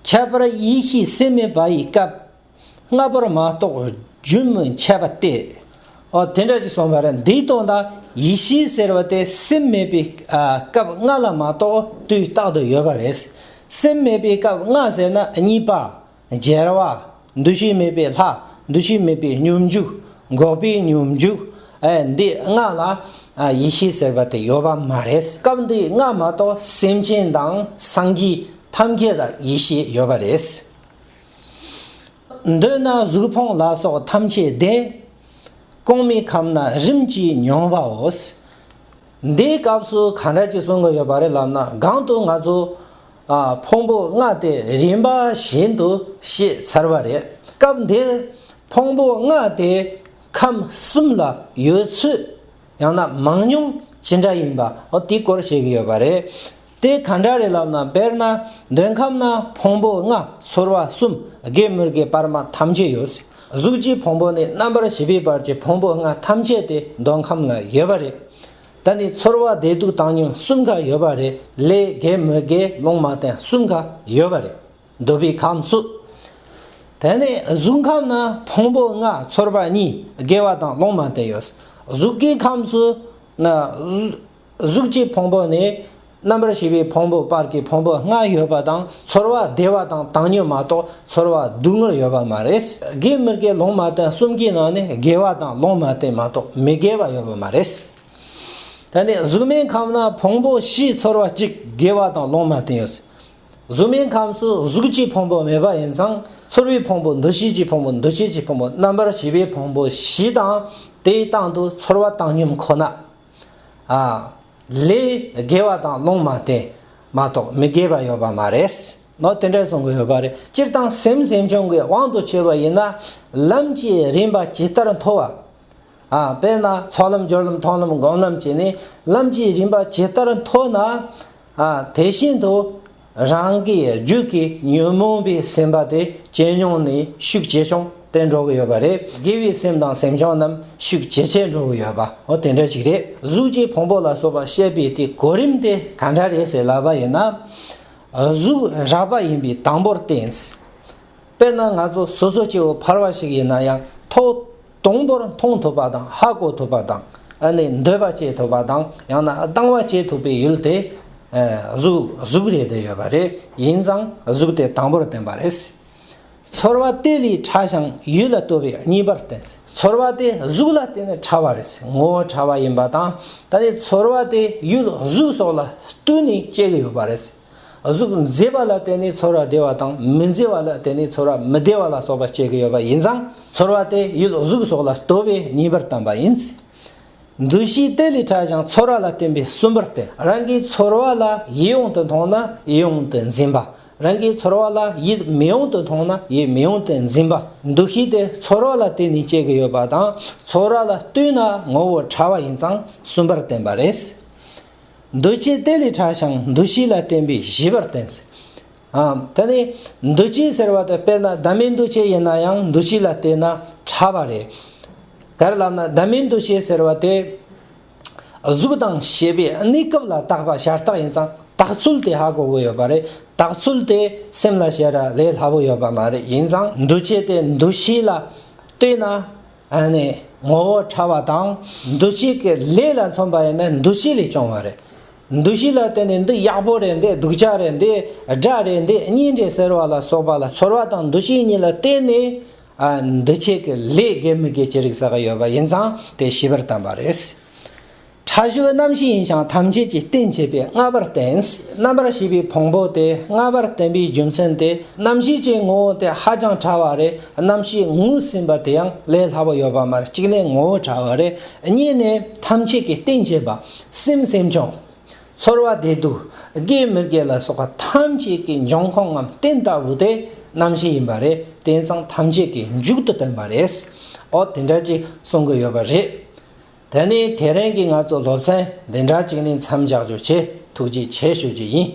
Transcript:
ཁྱད་པར་ཡེ་ཤེས་སེམས་མེད་པ་ཡི་སྐབས། ལྔ་པོར་མ་རྟོགས་རྒྱུན་མི་འཆད་པ་སྟེ། འོ་དེ་འདྲ་ཅིག་གསུངས་པ་རེད་འདིའི་དོན་དང་ཡེ་ཤེས་ཟེར་བ་དེ་སེམས་མེད་པའི་སྐབས་ལྔ་ལ་མ་རྟོགས་དུས་རྟག་ཏུ་ཡོད་པ་རེད། སེམས་མེད་པའི་སྐབས་ལྔ་ཟེར་ན་གཉིས་པ། རྒྱལ་བ། འདུ་ཤེས་མེད་པའི་ལྷ། འདུ་ཤེས་མེད་པའི་སྙོམས་འཇུག། འགོག་པའི་སྙོམས་འཇུག། འདི་ལྔ་ལ། ཡེ་ཤེས་ཟེར་བ་དེ་ཡོད་པ་མ་རེད། སྐབས་འདི་ལྔ་མ་གཏོགས་སེམས་ཅན་དང་སངས་རྒྱས་ཐམས་ཅད་ལ་ཡེ་ཤེས་ཡོད་པ་རེད། འདོད་ན་གཟུགས་ཕུང་ལ་སོགས་ཐམས་ཅད་བདེན། སྐོང་མེད་ཁམས་ན་རིམ་གྱིས་མྱོང་བའོ། འདིའི་སྐབས་སུ་གང་འདྲ་ཅིག་གསུང་གི་ཡོད་པ་རེད་ལབ་ན་སྒང་དུ་ང་ཚོ། ཕུང་པོ་ལྔ་སྟེ་རིམ་པ་བཞིན་དུ་ཤེས་ཚར་བ་རེད། སྐབས་འདིར་ཕུང་པོ་ལྔ་དེ་ཁམས་གསུམ་ལ་ཡོད་ཚུལ་ཡང་ན་མང་ཉུང་ཇི་འདྲ་ཡིན་པ་འོ་དེའི་སྐོར་བཤད་ཀྱི་ཡོད་པ་རེད། དེ་ག་འདྲ་རེད་ལབ་ན་དཔེར་ན་འདོད་ཁམས་ན་ཕུང་པོ་ལྔ་ཚོར་བ་གསུམ་དགེ་མི་དགེ་སྤར་མ་ཐམས་ཅད་ཡོད། གཟུགས་ཀྱི་ཕུང་པོ་ནས་རྣམ་པར་ཤེས་པའི་བར་གྱི་ཕུང་པོ་ལྔ་ཐམས་ཅད་དེ་འདོད་ཁམས་ལ་ཡོད་པ་རེད། ད་ནི་ཚོར་བ་བདེ་སྡུག་བཏང་སྙོམས་གསུམ་ག་ཡོད་པ་རེད་ལས་རྒས་མོ་དགེ་སློང་མ་བསྟན་གསུམ་ག་ཡོད་པ་རེད་འདོད་པའི་ཁམས་སུ། དེ་ནས་གཟུགས་ཁམས་ན་ཕུང་པོ་ལྔ་ཚོར་བ་གཉིས་དགེ་བ་དང་སློང་མ་བསྟན་ཡོད། གཟུགས་ཀྱི་ཁམས་སུ། གཟུགས་ཀྱི་ཕུང་པོ་ནི། རྣམ་པར་ཤེས་པའི་ཕུང་པོ་པར་གྱི་ཕུང་པོ་ལྔ་ཡོད་པ་དང་ཚོར་བ་བདེ་བ་དང་བཏང་སྙོམས་མ་གཏོགས་ཚོར་བ་སྡུག་བསྔལ་ཡོད་པ་མ་རེད། དགེ་མི་དགེ་ལོང་མ་བསྟན་གསུམ་གྱི་ནང་ནས་དགེ་བ་དང་ལོང་མ་བསྟན་མ་གཏོགས་མི་དགེ་བ་ཡོད་པ་མ་རེད། ད་ནི་གཟུགས་མེད་ཁམས་ན་ཕུང་པོ་བཞིའི་ཚོར་བ་གཅིག་དགེ་བ་དང་ལོང་མ་བསྟན་ཡོད། གཟུགས་མེད་ཁམས་སུ་གཟུགས་ཀྱི་ཕུང་པོ་མེད་པ་ཡིན་ཙང་ཚོར་བའི་ཕུང་པོ་འདུ་ཤེས་ཀྱི་ཕུང་པོ་འདུ་བྱེད་ཀྱི་ཕུང་པོ་རྣམ་པར་ཤེས་པའི་ཕུང་པོ་བཞི་དང་དེའི་སྟེང་དུ་ཚོར་བ་བཏང་སྙོམས་ཁོ་ན། ལས། དགེ་བ་དང་སློང་མ་སྟེ། མ་གཏོགས་མི་དགེ་བ་ཡོད་པ་མ་རེད། ནོ། དེ་འདྲ་གསུང་གི་ཡོད་པ་རེད། སྤྱིར་བཏང་སེམས་སེམས་བྱུང་གི་དབང་དུ་བྱས་པ་ཡིན་ན། ལམ་གྱི་རིམ་པ་ཇི་ལྟར་མཐོ་བ། དཔེར་ན་ཚོགས་ལམ་སྦྱོར་ལམ་མཐོང་ལམ་སྒོམ་ལམ་བཅས་ནི་ལམ་གྱི་རིམ་པ་ཇི་ལྟར་མཐོ་ན། དེ་བཞིན་དུ། རང་གི་རྒྱུད་ཀྱི་ཉོན་མོངས་པའི་སེམས་པ་དེ་ཇེ་ཉུང་ནས་ཤུགས་ཇེ་ཆུང་དེ་འགྲོ་གི་ཡོད་པ་རེད། དགེ་བའི་སེམས་དང་སེམས་བྱུང་རྣམས་ཤུགས་ཇེ་ཆེར་འགྲོ་གི་ཡོད་པ་འོ་དེ་འདྲ་ཞིག་རེད། གཟུགས་ཀྱི་ཕུང་པོ་ལ་སོགས་པ་ཤེས་པའི་དེ་གོ་རིམ་དེ་ག་འདྲ་རེད་ཟེར་ལབ་པ་ཡིན་ན། གཟུགས་རགས་པ་ཡིན་པའི་དང་པོར་བསྟན། དཔེར་ན་ང་ཚོ་སོ་སོ་སྐྱེ་བོ་འཕར་བ་ཞིག་ཡིན་ན་ཡང་ཐོག། དང་པོར་མཐོང་ཐུབ་པ་དང་ཧ་གོ་ཐུབ་པ་དང་ནི་འདོད་པ་སྐྱེ་ཐུབ་པ་དང་ཡང་ན་སྡང་བ་སྐྱེ་ཐུབ་པའི་ཡུལ་དེ། གཟུགས་རེད་དེ་ཡོད་པ་རེད་ཡིན་ཙང་གཟུགས་དེ་དང་པོར་བསྟན་པ་རེད། ཚོར་བ་དེ་ལས་ཕྲ་ཞིང་ཡུལ་ལ་ལྟོས་པའི་གཉིས་པར་བསྟན། ཚོར་བ་དེ་གཟུགས་ལ་བརྟེན་ནས་ཕྲ་བ་རེད་ངོ་བོ་ཕྲ་བ་ཡིན་པ་དང་ད་ནི་ཚོར་བ་དེ་ཡུལ་གཟུགས་སོགས་ལ་བསྟུན་ནས་སྐྱེ་གི་ཡོད་པ་རེད། གཟུགས་མཛེས་པ་ལ་བརྟེན་ནས་ཚོར་བ་བདེ་བ་དང་མི་མཛེས་པ་ལ་བརྟེན་ནས་ཚོར་བ་མི་བདེ་བ་ལ་སོགས་པ་སྐྱེ་གི་ཡོད་པ་ཡིན་ཙང་ཚོར་བ་དེ་ཡུལ་གཟུགས་སོགས་ལ་ལྟོས་པའི་ཉེས་པར་བསྟན་པ་ཡིན། འདུ་ཤེས་གཏད་ལས་ཕྲ་ཞིང་ཚོར་བ་ལ་བརྟེན་པའི་གསུམ་པར་བསྟན། རང་གི་ཚོར་བ་ལ་ཡིད་ཡོངས་དུ་མཐོང་ན་ཡིད་ཡོངས་དུ་འཛིན་པ། རང་གི་ཚོར་བ་ལ་ཡིད་མི་ཡོངས་དུ་མཐོང་ན་ཡིད་མི་ཡོངས་དུ་འཛིན་པ། འདུ་ཤེས་དེ་ཚོར་བ་ལ་བརྟེན་ནས་སྐྱེ་གི་ཡོད་པ་དང་ཚོར་བ་ལ་ལྟོས་ན་ངོ་བོ་ཕྲ་བ་ཡིན་ཙང་གསུམ་པར་བསྟན་པ་རེད། འདུ་བྱེད་དེ་ལས་གྲགས་ཤིང་འདུ་ཤེས་ལ་བརྟེན་པས་ཞི་བར་བསྟན། དེ་ནས་འདུ་བྱེད་ཟེར་བ་དེ་དཔེར་ན་བདག་མེད་འདུ་བྱེད་ཡིན་ན་ཡང་འདུ་བྱེད་ལ་བརྟེན་ན་ཕྲ་བ་རེད། དེར་ལབ་ན་བདག་མེད་འདུ་བྱེད་ཟེར་བ་དེ་གཟུགས་དང་ཞེས་པའི་གནས་སྐབས་ལ་བཏགས་པ་ཤ་སྟག་ཡིན་ཙང་བཏགས་ཚུལ་དེ་ཧ་གོ་བོ་ཡོད་པ་རེད་བཏགས་ཚུལ་དེ་སེམས་ལ་བྱས་ར་ལས་སླ་བོ་ཡོད་པ་མ་རེད་ཡིན་ཙང་འདུ་བྱེད་དེ་འདུ་ཤེས་ལ་བལྟོས་ན། ནི་ངོ་བོ་ཕྲ་བ་དང་འདུ་བྱེད་ཀྱི་ལས་ལ་མཚོན་པ་ཡིན་ན་འདུ་བྱེད་ལས་བྱུང་བ་རེད། འདུ་བྱེད་ལ་བརྟེན་ནས་འདི་ཡག་པོ་རེད་འདི་སྡུག་ཅག་རེད་འདི་དགྲ་རེད་འདི་གཉེན་རེད་ཟེར་བ་ལ་སོགས་པ་ལ་ཚོར་བ་དང་འདུ་བྱེད་གཉིས་ལ་བརྟེན་ནས་འདུ་བྱེད་ཀྱི་ལས་དགེ་མི་དགེ་ཅི་རིགས་ས་ག་ཡོད་པ་ཡིན་ཙང་དེ་ཞིབ་པར་བསྟན་པ་རེད། ཕྲ་བཞི་བ་རྣམ་ཤེས་ཡིན་ཞིང་ཐམས་ཅད་ཀྱི་རྟེན་བྱེད་པས་ལྔ་པར་བསྟན། རྣམ་པར་ཤེས་པའི་ཕུང་པོ་སྟེ་ལྔ་པར་བསྟན་པའི་རྒྱུ་མཚན་ཏེ་རྣམ་ཤེས་ཀྱི་ངོ་བོ་དེ་ཧ་ཅང་ཕྲ་བ་རེ་རྣམ་ཤེས་ངོས་ཟིན་པ་དེ་ཡང་ལས་སླ་པོ་ཡོད་པ་མར་གཅིག་ལས་ངོ་བོ་ཕྲ་བ་རེ་རྙེད་ནས་ཐམས་ཅད་ཀྱི་རྟེན་བྱེད་པ་སེམས་སེམས་བྱུང། ཚོར་བ་བདེ་སྡུག་དགེ་མི་དགེ་ལ་སོགས་པ་ཐམས་ཅད་ཀྱི་འབྱུང་ཁུངས་ངམ་རྟེན་ལྟ་བུ་དེ་རྣམ་ཤེས་ཡིན་པ་རེ་དེ་ཚང་ཐམས་ཅད་ཀྱི་མཇུག་ཏུ་བསྟན་པ་རེད། འོ་དེ་འདྲ་ཅིག་གསུང་གི་ཡོད་པ་རེད། ད་ནི་དེ་རིང་གི་ང་ཚོ་སློབ་ཚན་འདི་འདྲ་གཅིག་ནི་མཚམས་འཇགས་རྒྱུ་ཆེད་ཐུགས་རྗེ་ཆེ་ཞུ་རྒྱུ་ཡིན།